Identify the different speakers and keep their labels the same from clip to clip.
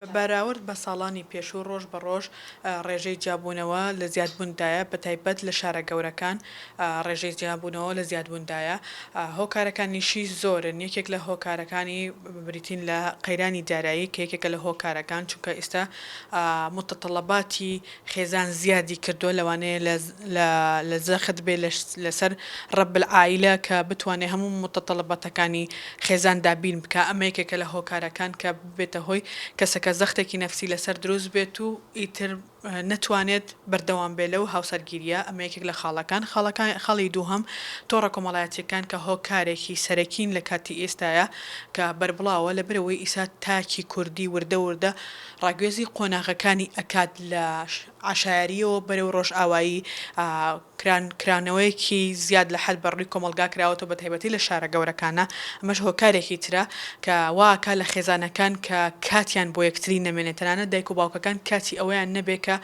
Speaker 1: بەراورد بە ساڵانی پێشوو ڕۆژ بە ڕۆژ ڕێژەی جیابوونەوە لە زیادبووندایە بە تایبەت لە شارە گەورەکان ڕێژەی جیابوونەوە لە زیادبووندایە هۆکارەکانیشی زۆرن یەکێک لە هۆکارەکانی بریتین لە قەیرانی دارایی کە یەکێکە لە هۆکارەکان چونکە ئیستا متطلباتی خێزان زیادی کردووە لەوانەیە لە لە زەخت بێ لە سەر رب العائلە کە بتوانێ هەموو متطلباتەکانی خێزان دابین بکا ئەمە یەکێکە لە هۆکارەکان کە بێتە هۆی کەسەکە زەختێکی نەفسی لەسەر دروست بێت و ئیتر نەتوانێت بەردەوام بێت لەو هاوسەرگیرییە، ئەمە یەکێک لە خاڵەکان، خاڵەکا خاڵی دووهەم تۆڕە کۆمەڵایەتییەکان کە هۆکارێکی سەرەکین لە کاتی ئیستایا کە بەربڵاوە لەبەر ئەوەی ئیسا تاکی کوردی وردە وردە ڕاگوێزی قۆناغەکانی ئەکات لە عەشایەرییەوە بەرەو ڕۆژئاوایی کران، کرانەوەیەکی زیاد لە حەد بەڕووی کۆمەڵگا کراوەتەوە بە تایبەتی لە شارە گەورەکانا، ئەمەش هۆکارێکی ترە کە وا ئەکا لە خێزانەکان کە کاتیان بۆ یەکتری نەمێنێ تەنانەت دایک و باوکەکان کاتی ئەوەیان نەبێ کە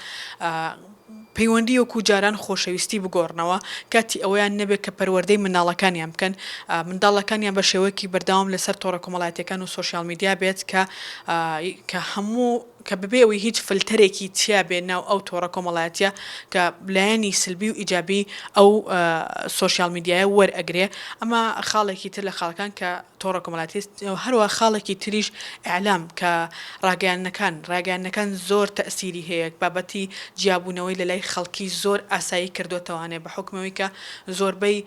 Speaker 1: پەیوەندی وەکوو جاران خۆشەویستی بگۆڕنەوە، کاتی ئەوەیان نەبێ کە پەروەردەی منداڵەکانیان بکەن، منداڵەکانیان بە شێوەیەکی بەردەوام لە سەر تۆڕە کۆمەڵایەتیەکان و سۆشیال میدیا بێت کە کە هەموو. کە بەبێ ئەوەی هیچ فلتەرێکی تیا بێ ناو ئەو تۆڕە کۆمەڵایەتیە کە لایەنی سلبی و ئیجابی ئەو سۆشیال میدیایە وەر ئەگرێ ئەمە خاڵێکی تر لە خاڵەکان کە تۆڕە کۆمەڵاتی هەروە خاڵێکی تریش ئیعلام کە ڕاگەیانەکان ڕاگەیانەکان زۆر تەئسیری هەیە بابەتی جیابوونەوەی لە لای خەڵکی زۆر ئاسایی کردۆتەوانێ بە حوکمەوەی کە زۆربەی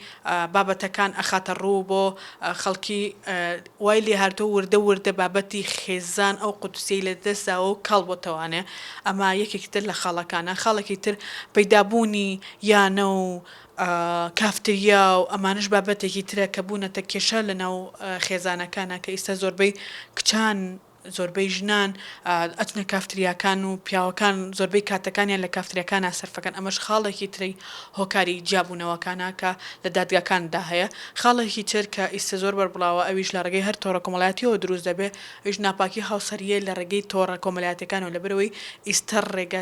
Speaker 1: بابەتەکان ئەخاتە ڕوو بۆ خەڵکی وای لێهاتووە وردە وردە بابەتی خێزان ئەو قودسیەی لە دەست داوە و کاڵ بۆتەوانێ ئەمە یەکێکی تر لە خاڵەکانە خاڵێکی تر پەیدا بوونی یانە و کافتریا و ئەمانەش بابەتێکی ترە کە بوونەتە کێشە لە ناو خێزانەکانا کە ئیستا زۆربەی کچان زۆربەی ژنان ئەچنە کافتریاکان و پیاوەکان زۆربەی کاتەکانیان لە کافتریاکانا سەرفەکەن ئەمەش خاڵێکی تری هۆکاری جیابوونەوەکانە کە لە دادگاکاندا هەیە خاڵێکی تر کە ئیستە زۆر بەربڵاوە ئەویش لە ڕێگەی هەر تۆڕە کۆمەڵاتیەوە دروست دەبێ ئەویش ناپاکی هاوسەریە لە ڕێگەی تۆڕە کۆمەلاتیەکانەوە لەبەرئەوەی ئیستە ڕێگە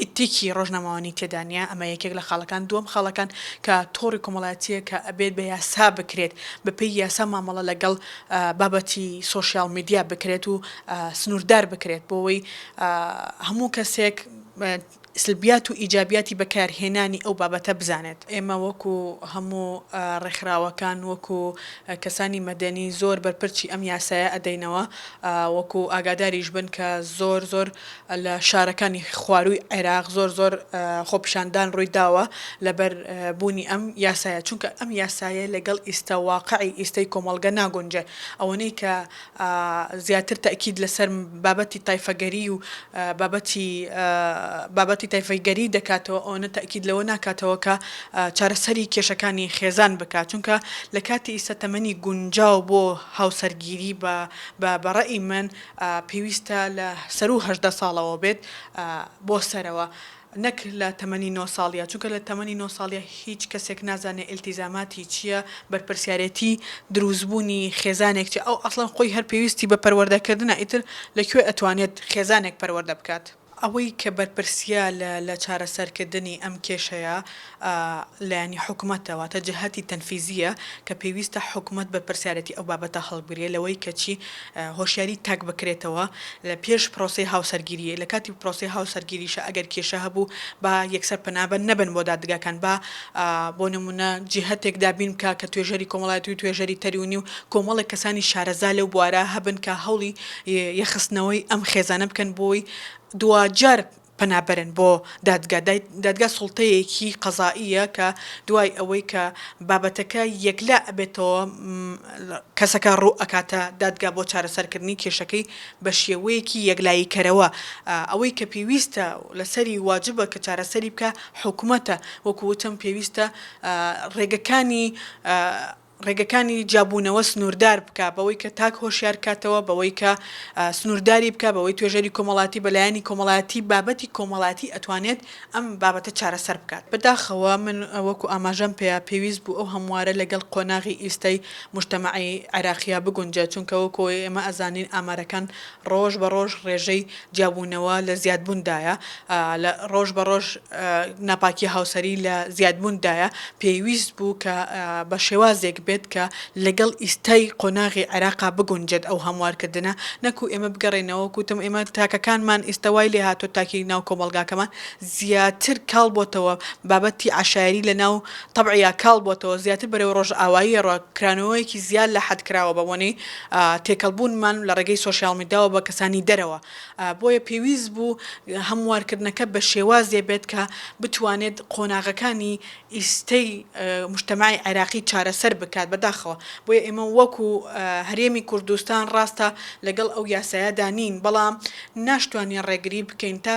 Speaker 1: ئیتیکی ڕۆژنامەوانی تێدا نیە، ئەمە یەکێک لە خاڵەکان، دووەم خاڵەکان کە تۆڕی کۆمەڵایەتیە کە ئەبێت بە یاسا بکرێت، بە پێی یاسا مامەڵە لەگەڵ بابەتی سۆشیاڵ میدیا بکرێت و سنوردار بکرێت بۆوەی هەموو کەسێک سلبیات و ئیجابیاتی بەکار هێنانی ئەو بابەتە بزانێت. ئێمە وەکو هەموو ڕێکخراوەکان وەکو کەسانی مەدەنی زۆر بەرپرچی ئەم یاسایە ئەدەینەوە وەکو ئاگاداریش بن کە زۆر زۆر لە شارەکانی خوارووی عێراق زۆر زۆر خۆپیشاندان ڕووی داوە لەبەر بوونی ئەم یاسایە چونکە ئەم یاسایە لەگەڵ ئیستە واقعی ئیستەی کۆمەڵگە ناگونجێ ئەوەنەی کە زیاتر تەئکید لەسەر بابەتی تایفەگەری و بابەتی بابەتی تایفەگەری دەکاتەوە ئەوەنە تەئکید لەوە ناکاتەوە کە چارەسەری کێشەکانی خێزان بکات چونکە لە کاتی ئیستە تەمەنی گونجاو بۆ هاوسەرگیری بە بە ڕەئی من پێویستە لە سەروو هەژدە ساڵەوە بێت بۆ سەرەوە نەک لە تەمەنی نۆ ساڵیە چونکە لە تەمەنی نۆ ساڵیە هیچ کەسێک نازانێت ئیلتیزاماتی چیە بەرپرسیارێتی دروستبوونی خێزانێک چیە ئەو ئەسڵەن خۆی هەر پێویستی بە پەروەردەکردنە ئیتر لە کوێ ئەتوانێت خێزانێک پەروەردە بکات. ئەوەی کە بەرپرسیە لە چارەسەرکردنی ئەم کێشەیە لایەنی حکومەتە، واتە جەهەتی تەنفیزیە کە پێویستە حکومەت بەرپرسیارێتی ئەو بابەتە هەڵبگرێ لەوەی کە چی هۆشیاری تاک بکرێتەوە لە پێش پرۆسەی هاوسەرگیری، لە کاتی پرۆسەی هاوسەرگیریشە ئەگەر کێشە هەبوو با یەکسەر پەنا نەبەن بۆ دادگاکان با بۆ نمونە جیهەتێک دابین بکا کە توێژەری کۆمەڵایەتی و توێژەری تەریونی و کۆمەڵێک کەسانی شارەزا لەو بوارە هەبن کە هەوڵی ی خستنەوەی ئەم خێزانە بکەن بۆی دواجار پەنا بەرن بۆ دادگا، دادگا سوڵتەیەکی قەزائییە کە دوای ئەوەی کە بابەتەکە یەکلا ئەبێتەوە کەسەکە ڕوو ئەکاتە دادگا بۆ چارەسەرکردنی کێشەکەی بە شێوەیەکی یەکلاییکەرەوە ئەوەی کە پێویستە لەسەری واجبە کە چارەسەری بکا حکومەتە وەکو وتم پێویستە ڕێگەکانی ڕێگەکانی جیابوونەوە سنووردار بکا، بەوەی کە تاک هۆشیار کاتەوە، بەوەی کە سنوورداری بکا، بەوەی توێژەری کۆمەڵایەتی بە لایەنی کۆمەڵایەتی بابەتی کۆمەڵایەتی ئەتوانێت ئەم بابەتە چارەسەر بکات. بە داخەوە من وەکو ئاماژەم پێیا پێویست بوو ئەو هەموارە لەگەڵ قۆناغی ئیستای موجتەمەعی عێراقیا بگونجێت، چونکە وەکو ئەوەی ئێمە ئەزانین ئامارەکان ڕۆژ بە ڕۆژ ڕێژەی جیابوونەوە لە زیادبووندایە، ڕۆژ بە ڕۆژ ناپاکییە هاوسەری لە زیادبووندایە، پێویست بوو کە بە شێوازێک بێت کە لەگەڵ ئیستای قۆناغی عێراقا بگونجێت ئەو هەموارکردنە، نەکو ئێمە بگەڕێینەوە وەکو وتم ئێمە تاکەکانمان ئیستە وای لێ هاتووە تاکی ناو کۆمەڵگاکەمان زیاتر کاڵ بۆتەوە بابەتی عەشایەری لە ناو تەبعیا کاڵ بۆتەوە زیاتر بەرەو ڕۆژئاوایی ڕۆ کرانەوەیەکی زیاد لە حەد کراوە بە بۆنەی تێکەڵبوونمان لە ڕێگەی سۆشیال میداوە بە کەسانی دەرەوە، بۆیە پێویست بوو هەموارکردنەکە بە شێوازێ بێت کە بتوانێت قۆناغەکانی ئیستەی موجتەمەعی عێراقی چارەسەر بکات، بەداخەوە بۆیە ئێمە وەکو هەرێمی کوردستان ڕاستە لەگەڵ ئەو یاسایەدا نین، بەڵام ناشتوانین ڕێگری بکەین تا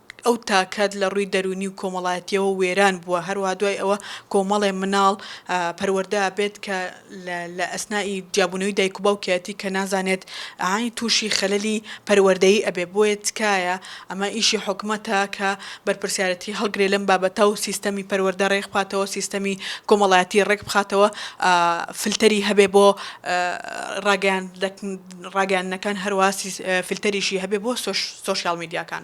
Speaker 1: ئەو تاکەت لە ڕووی دەروونی و کۆمەڵایەتییەوە وێران بووە، هەروەها دوای ئەوە کۆمەڵێ مناڵ پەروەردە ئەبێت کە لە ئەسنائی جیابوونەوەی دایک و باوکیەتی کە نازانێت ئەی تووشی خەلەلی پەروەردەیی ئەبێ، بۆیە تکایە ئەمە ئیشی حکومەتە کە بەرپرسیارەتی هەڵگرێ لەم بابەتە و سیستەمی پەروەردە ڕێک بخاتەوە، سیستەمی کۆمەڵایەتی ڕێک بخاتەوە، فلتەری هەبێ بۆ ڕاگەیاندن. ڕاگەیاندنەکان هەر واسی فلتەریشی هەبێ بۆ سۆشیاڵ میدیاکان.